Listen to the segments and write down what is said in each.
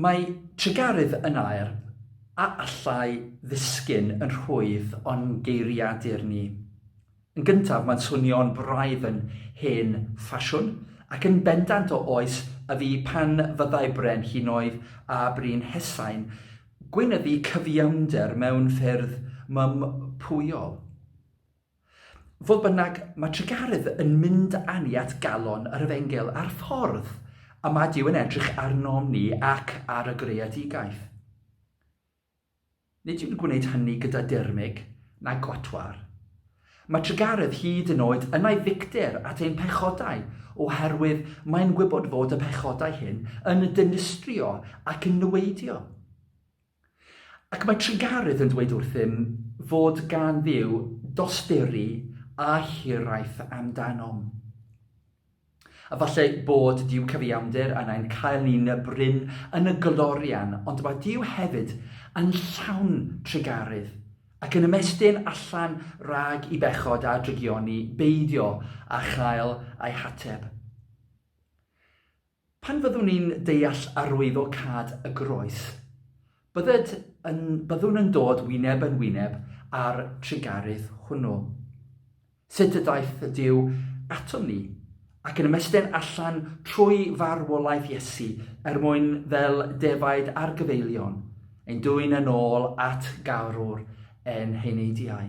Mae trugaredd yn air a allai ddisgyn yn rhwydd o'n geiriadur ni. Yn gyntaf, mae'n swnio'n braidd yn hen ffasiwn, ac yn bendant o oes y fi pan fyddai bren hinoedd a brin hesain gweinyddu cyfiawnder mewn ffyrdd mympwyol. Fodd bynnag, mae Tregaredd yn mynd â ni at galon yr Efengyl a'r ffordd y mae Duw yn edrych arnom ni ac ar y greadigaeth. Nid yw'n gwneud hynny gyda dirmyg na gwatwar. Mae Tregaredd hyd yn oed yn ei ddicter at ein pechodau, oherwydd mae'n gwybod fod y pechodau hyn yn dynistrio ac yn niweidio. Ac mae Tregarth yn dweud wrthym fod gan Dduw dosturi a hiraeth amdanom. A falle bod Duw cyfiawnder yn ein cael ni'n brin yn y glorian, ond mae Duw hefyd yn llawn tregarydd, ac yn ymestyn allan rhag i bechod a drygioni beidio â chael eu hateb. Pan fyddwn ni'n deall arwyddocâd y groes, bydded yn, byddwn yn dod wyneb yn wyneb â'r trugaredd hwnnw. Sut y daeth Duw atom ni, ac yn ymestyn allan trwy farwolaeth Iesu er mwyn fel defaid ar gyfeillion, ein dwyn yn ôl at garwr ein heneidiau.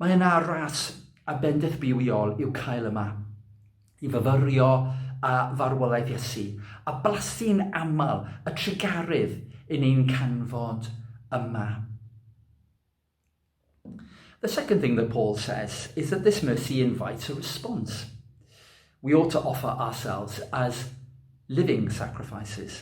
Mae yna ras a bendith bywiol i'w cael yma, i fyfyrio â farwolaeth Iesu, a blasu'n aml y trugaredd yn ein canfod yma. The second thing that Paul says is that this mercy invites a response. We ought to offer ourselves as living sacrifices.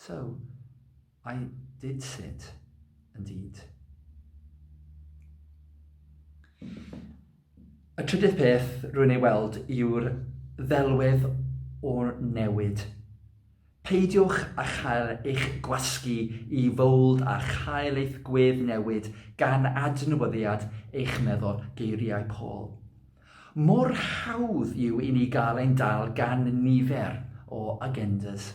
So, I did sit, indeed. Y trydydd peth rwy'n ei weld yw'r ddelwedd o newid. Peidiwch â chael eich gwasgu i fowld a chael eich gwedd newid gan adnewyddiad eich meddwl, geiriau Paul. Mor hawdd yw i ni gael ein dal gan nifer o agendas.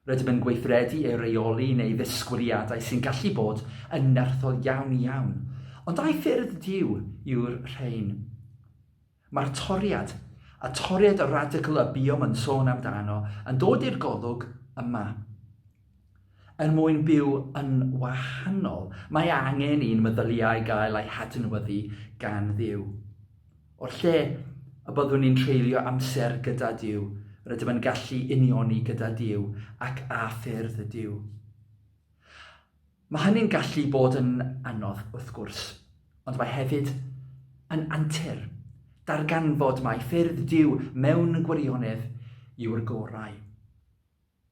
Rydym yn gweithredu ei reoli neu ddisgwyliadau sy'n gallu bod yn nerthol iawn iawn, ond ai ffyrdd Duw yw'r rhain? Mae'r toriad, a toriad radicl y buom yn sôn amdano, yn dod i'r golwg yma. Er mwyn byw yn wahanol, mae angen i'n meddyliau gael eu hadnewyddu gan Dduw. O'r lle y byddwn ni'n treulio amser gyda Duw, rydym yn gallu unioni gyda Duw ac â ffyrdd y Duw. Mae hynny'n gallu bod yn anodd, wrth gwrs, ond mae hefyd yn antur darganfod mai ffyrdd Duw mewn gwirionedd yw'r gorau.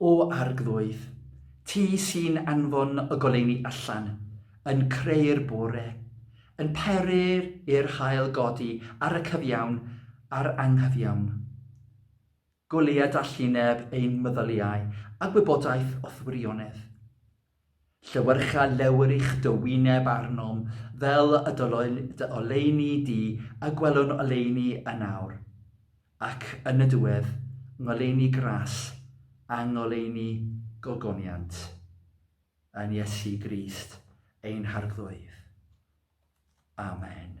O Arglwydd, Ti sy'n anfon y goleuni allan, yn creu'r bore, yn peryr i'r haul godi ar y cyfiawn a'r anghyfiawn. Goleuadallineb ein meddyliau a gwybodaeth o'th wirionedd. Llewyrcha lewyrch dy wyneb arnom fel y dylwn dy oleuni di a gwelwn oleuni yn awr, ac yn y diwedd, ngoleuni gras a ngoleuni gogoniant, yn Iesu Grist ein Harglwydd. Amen.